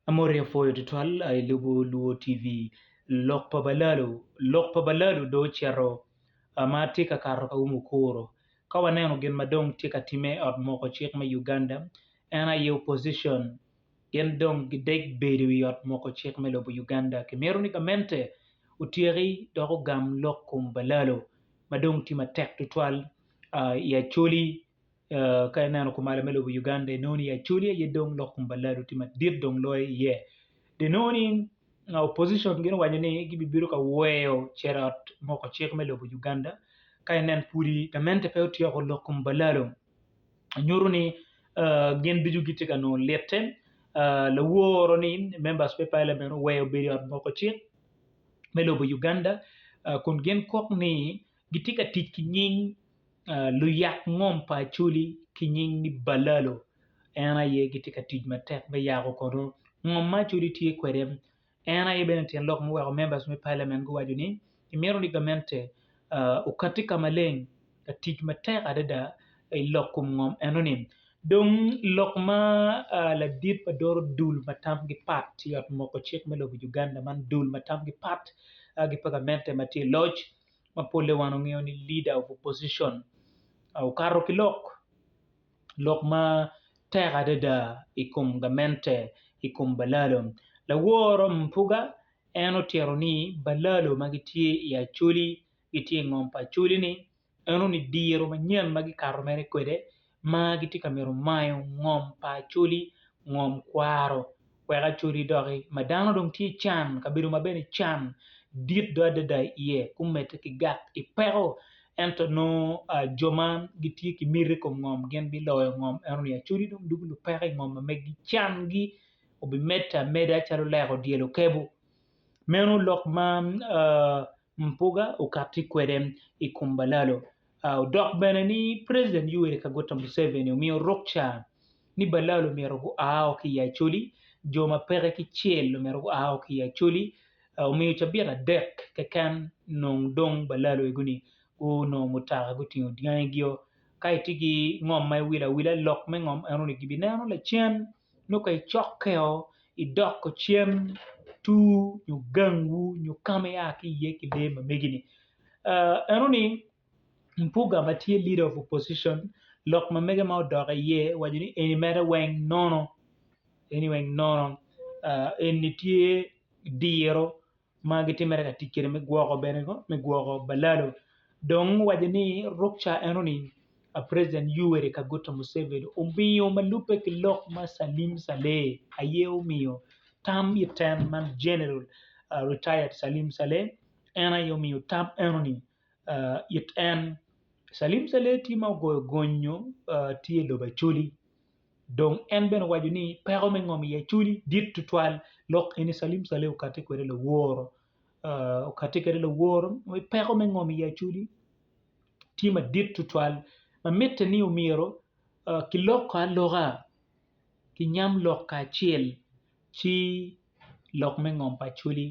Amoti apwoyo tutwal aye lubo luo TV lok pa balalu lok pa balalu do ocito ma tye ka kato ka umu kuro ka waneno gin ma dong tye ka time i ot moko cik me Uganda en aye opposition gin dong gideg bedo i ot moko cik me lobo Uganda kimito ni gamente otyeki dok ogam lok kom balalu ma dong tye matek tutwal i Acholi Ka ineno kumalo me lobo Uganda inongo ni Acholi aye dong lok kom pa Lalo tye madit dong loyo iye. Dong inongo ni opposition gin owaco ni gibibino ka weyo Cerrot moko cik me lobo Uganda ka inen pudi gamente pe otyeko lok kom pa Lalo nyuto ni gin ducu gitye ka nongo lite. Laworo ni members me parliament oweyo bedo i ot moko cik me lobo Uganda kun gin kok ni gitye ka tic ki nying luyak ngom pa Acholi ki nying ni Balalo en aye gitye ka tic matek me yako kono ngom ma Acholi tye kwede en aye bene tyen lok muweko members me parliament guwaco ni gimito ni gamente okati ka maleng ka tic matek adada i lok kom ngom enoni dong lok ma ladit ma doro dul ma tamgi pat i ot moko cik me lobo Uganda man dul ma tamgi pat gin pa gamente ma tye i loc. ma pole wan wangeyo ni leader of opposition okato ki lok, lok matek adada i kom gamente i kom balalo laworo mutoka en otito ni balalo ma gitye i acholi gitye i ngom pa acholi ni eno ni diro manyen ma gikato mere kwede. ma gitye ka mito mayo ngom pa Acholi, ngom kwaro wek Acholi doki ma dano dong tye i can, kabedo ma bene can dit do adada iye kumedde ki gak ki peko ento nongo jo ma gitye ki miti i kom ngom gin biloyo ngom ento ni Acholi dong dugo lupeko i ngom ma megi cangi obimedde ameda calo lek odyelo okebu, meno lok ma Mpuga okati kwede i kom balalo. Odok bene ni President Yoweri Kaguta Museveni omiyo rukca ni balalo myero gua o ki i Acholi, jo ma peke ki cel myero gua o ki i Acholi, omiyo cabit adek keken nong dong balalo egu ni gunongo mutoka gutingo dyangigio. Ka itye ki ngom ma iwilo awila lok me ngom eno ni gibineno lacen. nongo ka icokkeo idoko cen tur nyo gangwu nyo ka ma ia ki iye ki lee ma megi-ni enoni Mpuga ma tye leader of opposition lok ma mege ma odok iye owaco ni eni mere weng nono eni weng nono eni tye diro ma gitimmere ka tic kwede me gwoko bene ko me gwoko balalo dong owaco ni ruk ca enoni president Yoweri Kaguta Museveni omiyo ma lubbe ki lok ma Salim Saleh aye omiyo tam iten ma General retired Salim Saleh en aye omiyo tam enoni it en, Calim Caleti ma ogoyo gonyo tye i lobo Acholi dong en bene owaco ni peko me ngom i Acholi dit tutwal dok eni Calim Caleti okati kwede laworo okati kwede laworo ni peko me ngom i Acholi tye madit tutwal ma mitte ni omyero kiloko aloka kinyam lok kacel. Ci lok me ngom pa Acoli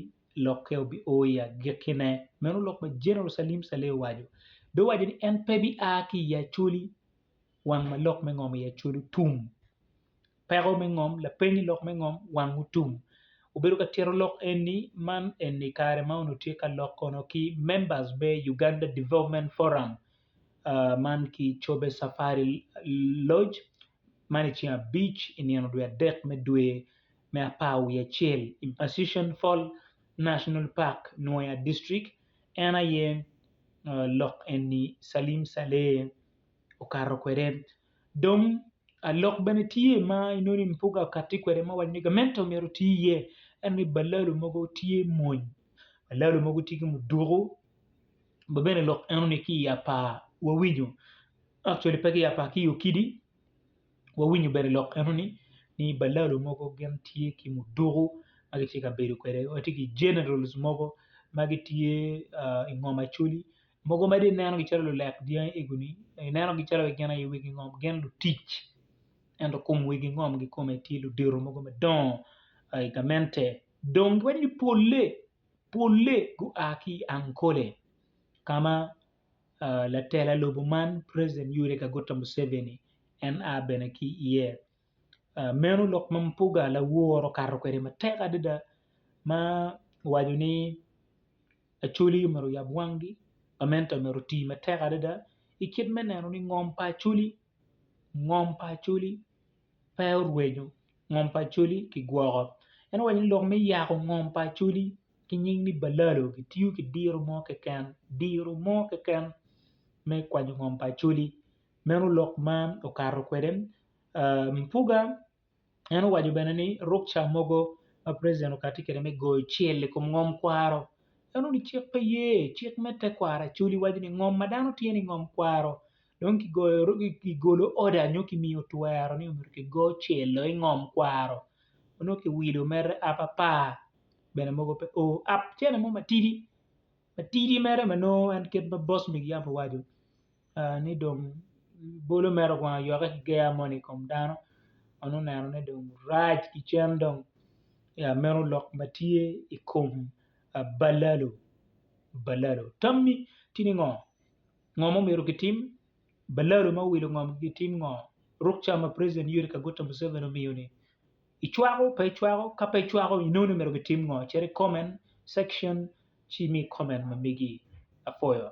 lokke obio i agikkine, meno lok ma Jeneral Salim Saleh owaco. Dong owaco ni en pe bia ki i Acoli wang ma lok me ngom i Acoli otum. Peko me ngom, lapeny i lok me ngom wang otum. Obedo ka tito lok eni man eni kare ma onongo tye ka lok kono ki members me Uganda Development Forum. man ki cobe cafari loc man i ceng abic i nino dwe adek me dwe me apar wiye acel i Associan Fall National Park, Nwoya District en aye lok eni Salim Saleh okato kwede dong lok bene tye ma inongo ni Mpuga okati kwede ma owaco ni gamente myero oti iye ento ni balalo mogo tye mony balalo mogo tye ki muduku. ba bene lok eno ni ki i apar wawinyo actually pe ki i apar ki i okidi wawinyo bene lok eno ni ni balalo mogo gin tye ki muduku ma gitye ka bedo kwede watye ki generals mogo ma gitye i ngom Acholi mogo ma dong inenogi calo lulek dyangi egoni inenogi calo gin aye wigi ngom gin lutic ento kom wigi ngom kikome tye ludito mogo madongo i gamente dong giwaco ni pole. polle gua ki i Ankole ka ma latela lobo man President Yoweri Kaguta Museveni en a bene ki iye. Meno lok ma Mpuga lawor okato kwede matek adada ma owaco ni Acholi myero oyab wangi, gamente myero oti matek adada i kit me neno ni ngom pa Acholi ngom pa Acholi pe orwenyo ngom pa Acholi ki gwoko en owaco ni lok me yako ngom pa Acholi ki nying ni Balalo kitiyo ki diro mo keken diro mo keken me kwanyo ngom pa Acholi meno lok ma okato kwede Mpuga en owaco bene ni ruk ca mogo ma president okati kwede me goyo cel i kom ngom kwaro en onongo ni cik pe ye cik me tekwaro Acholi waco ni ngom ma dano tye ni ngom kwaro dong kigolo oda nyo kimiyo twero ni myero kigo cel-lo i ngom kwaro nyo kiwilo mere app apar bene mogo pe oo app cene mo matidi matidi mere ma nongo en kit ma boss me yam owaco ni dong bolo mere okwongo oyokke ki ger moni i kom dano ma nongo oneno ni dong rac ki cen dong ya meno lok ma tye i kom balalo balalo tammi tye ni ngo? Ngo ma omyero gitim? Balalo ma owilo ngom gitim ngo? Ruk ca ma President Yoweri Kaguta Museveni omiyo ni, Icwako pe icwako? Ka pe icwako, inoni omyero gitim ngo? Cit i comment section ci imi comment ma megi. Apwoyo.